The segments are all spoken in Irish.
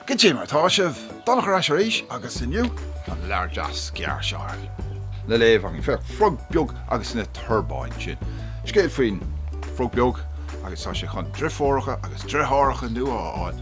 Goidé mar atá sibh! Donncha ar ais arís agus inniu tá leabhar deas gearr again le léamh againn. Féach, Frog Beag agus na Torbáin, sin scéal faoin bhFrog Beag agus tá sé chun driofúracha agus driotháracha nua a fháil.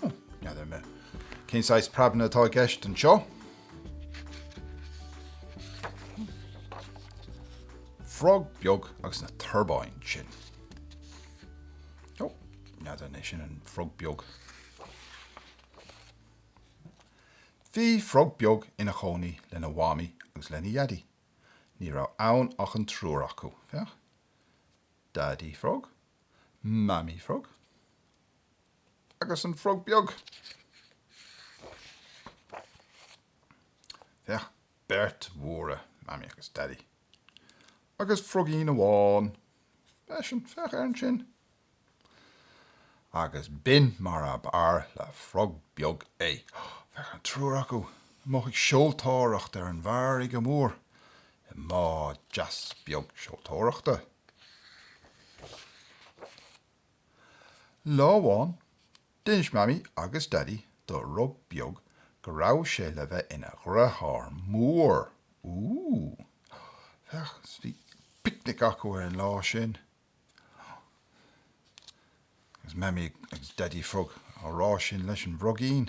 N'fheadar mé cén saghas prablam atá i gceist anseo. Frog beag agus na turbáin sin. Ó, n'fheadar an é sin an frog beag. Bhí frog beag ina chónaí lena mhamaí agus lena dhaidí. Ní raibh ann ach an triúr acu. Féach. Daidí frog. Mamaí frog. agus an frog beag. Féach, beirt mhóra, Mamaí agus Daidí, agus frogín amháin. Féach, féach air ansin. Agus b'in mar ab fhearr le frog beag é. Féach an triúr acu amuigh ag seoltóireacht ar an bhfarraige mhór i mbád deas beag seoltóireachta. Lá amháin, d'inis Mamaí agus Daidí do Fhrog Beag go raibh sé le bheith ina dhriotháir mór. Ooh! Féach, bhí picnic acu ar an lá sin. Agus Mamaí agus Daidí Frog á rá sin leis an bhfrogín.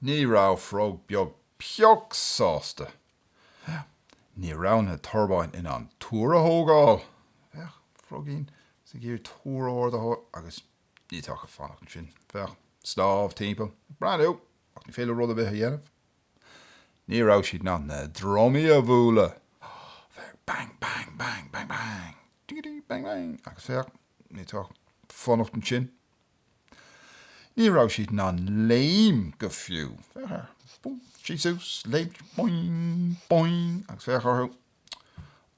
Ní raibh frog beag pioc sásta. Féach. Ní raibh na torbáin in ann túr a thógáil. Féach. Frogín ag iarraidh túr ard a thógáil agus iad ag fanacht ansin. Féach. Snámh timpeall. Breathnú ach ní féidir leo rud ar bith a dhéanamh. Ní raibh siad in ann na drumaí a bhualadh. Féach. Bang, bang, bang, bang, bang. Dingidí bang bang agus féach, iad ag fanacht ansin. Ní raibh siad in ann léim go fiú, féach air, bum, síos suas, léimt, boing, boing agus féach orthu.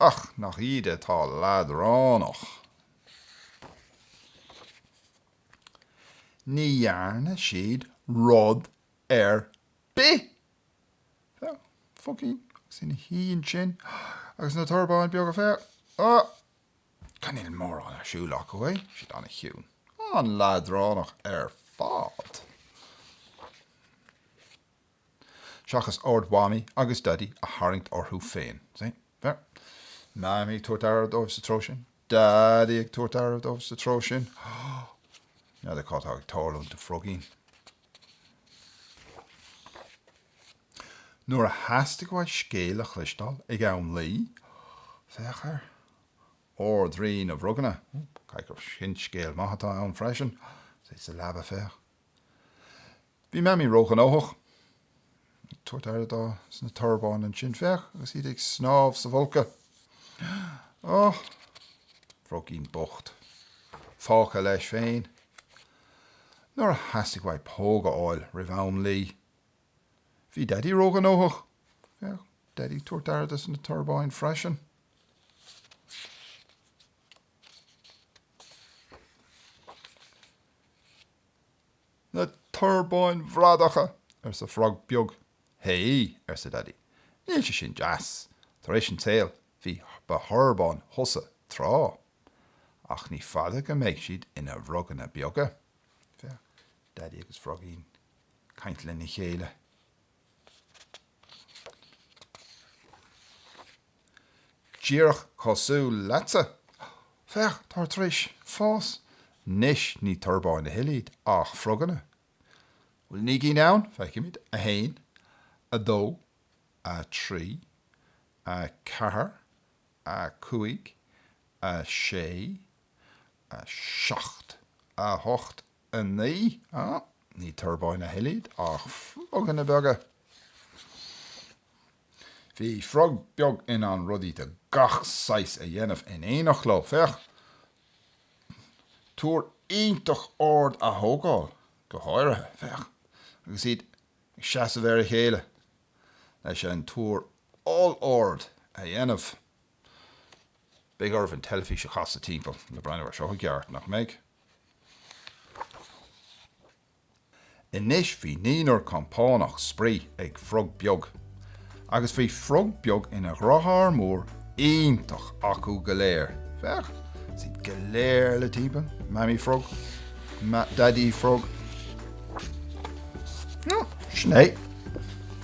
Ach nach iad atá leadránach. Ní dhearna siad rud ar bith Féach, frogín, agus é ina shuí ansin agus na torbáin beaga, féach, á, cha níl mórán ar siúl acu, é, siad an-chiúin, an-leadránach ar fad. Seachas aird Mhamaí agus Daidí a tharraingt orthu féin, see. Beirt. Mamaí ag tabhairt aire dóibh sa treo sin. Daidí ag tabhairt aire dóibh sa treo sin. N'fheadar cad tá ag tarlúint do Frogín. Nuair a theastaigh uaidh scéal a chloisteáil ag am luí, féach ar. Ard-Rí na bhFroganna. Caithfidh gur sin scéal maith atá ann freisin. Is é sa leaba, féach. Bhí Mamaí róghnóthach ag tabhairt aire dosna torbáin ansin, féach, agus iad ag snámh sa bhfolcadh. Ó! Frogín bocht. Fágtha leis féin. Nuair a theastaigh uaidh póg a fháil roimh am luí. Bhí Daidí róghnóthach, féach, Daidí ag tabhairt aire dosna torbáin freisin. Na torbáin bhradacha! arsa frog beag. Hé! arsa Daidí. Níl sé sin deas. Tar éis an tsaoil, bhí, ba thorbán tusa tráth. Ach ní fada go mbeidh siad ina bhfroganna beaga. Féach, Daidí agus Frogín ag caint lena chéile. Díreach cosúil leatsa. Féach, táid tar éis fás. Anois, ní torbáin a thuilleadh iad ach froganna. An bhfuil naoi gcinn ann? Feicimid. A haon. A dó. A trí. A ceathair. A cúig. A sé. A seacht. A hocht. 9. Ní torbáin a thuilleadh iad ach froganna beaga. Bhí frog beag in ann rudaí de gach saghas a dhéanamh in éineacht leo, féach, túr iontach ard a thógáil go háirithe, féach, agus iad ag seasamh ar a chéile leis an túr ollard a dhéanamh. Beidh oraibh an teilifís a chasadh timpeall le breathnú air seo i gceart, nach mbeidh? Anois bhí naonúr compánach spraoi ag frog beag. Agus bhí frog beag ina dheartháir mór iontach acu go léir. Féach, is iad go léir le timpeall, Mamaí Frog, Daidí Frog, Sin é.